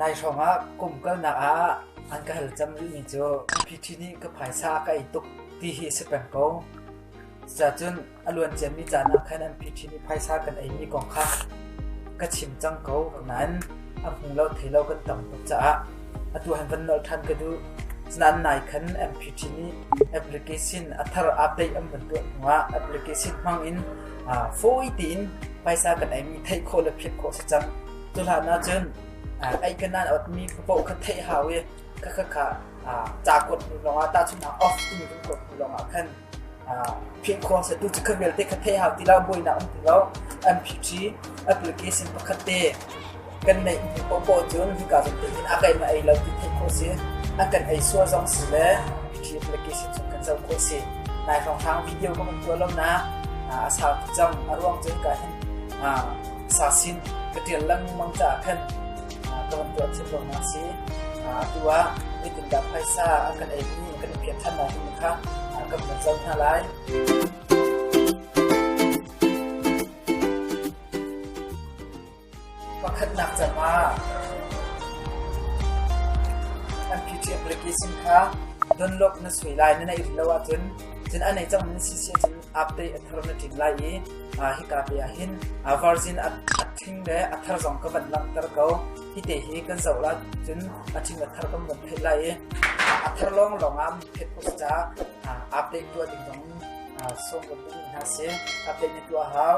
Nai hrawngah kum kalnak ah an ka hal cang rihmi cu MP.T nih ka phaisa ka ei tuk ti hi si peng ko. Cucacun a luan ciami caan ah khan MP.T nih phaisa kan eimi kong kha ka chim cang ko. Nain a hmu lo thei lo kan tam tuk caah atu han van nolh ṭhan ka duh. Cunain nai khan MP.T nih application a thar aa peih an van tuah hnuah application hmang in fawi tein phaisa kan eimi theih khawh le philh khawh a si cang. Cuhlan ahcun ei ka nan awtmi ka paoh kha theih hau i ka kha kha ca kuat hnu lawngah tahchunhnak off timi kan kuat hnu lawngah khan phit khuang se tu cu kha vialte kha theih hau ti lo buainak um ti lo an phit i application pakhat te kan neih hnu popo cun hika zong te cun a kai ma ei lo ti theih khawh si a kan ei sual zong si le phithi application cun kan co khawh si nai hrang hrang video ka kan tuah lo na a sau tuk cang a ruang cun ka hen sasin ka ṭial lengmang caah khan ka van tuah thiam ruangah a si. Atu ah nitin dah phaisa a kan eimi kan i phiat ṭhan lai himi kha ka van zoh hna lai. Pakhatnak cam ah an phi ṭhiam riki sin kha donlok na sui lai na na it lo ahcun cun an ei cang na si si ahcun Aktei a thar na tlin lai i hika te ah hin virgin a ṭhing le a thar zong ka van langhter ko. Hite hi kan zoh la cun a ṭhing a thar kan van theih lai i a thar lawnglawng ah miphet kut ca aktei tuah ding zong sawm kan duh hna sih. Aktei na tuah hau.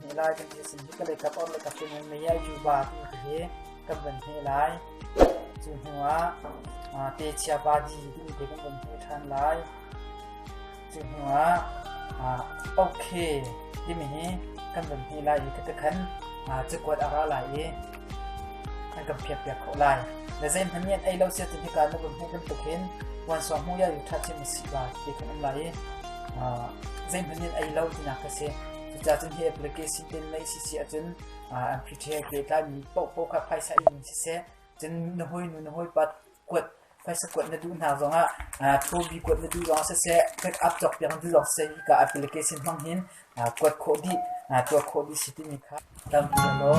Lai kan ti a sin hi ka leikap or leikap cu nan mei ah yuba tiin ka hi kan van hne lai. Cu hnu ah ah, techia badi tiin te kan van hne ṭhan lai. Cu hnu ah ah, okay timi hi kan van hne lai i ka te khan ah, cakuat a ra lai i an kan phiak piak khawh lai. Le zeihmanh nih an ei lo sia ti hika na van hne bantuk hin puan suang hmu ya yu ṭha chim a si ba ti kan um lai i ah, zeihmanh nih an ei lo tinak ka si. Cucacun hi application tenlei si si ahcun an pre-train ke tlaimi paohpaoh kha phaisa in siseh cun na hawinu na hawipa kuat phaisa kuat na duh hna zongah thobi kuat na duh zongah siseh backup cawk piak na duh zong siseh hika application hmang hin kuat khawh dih tuah khawh dih si timi kha tlangpi law.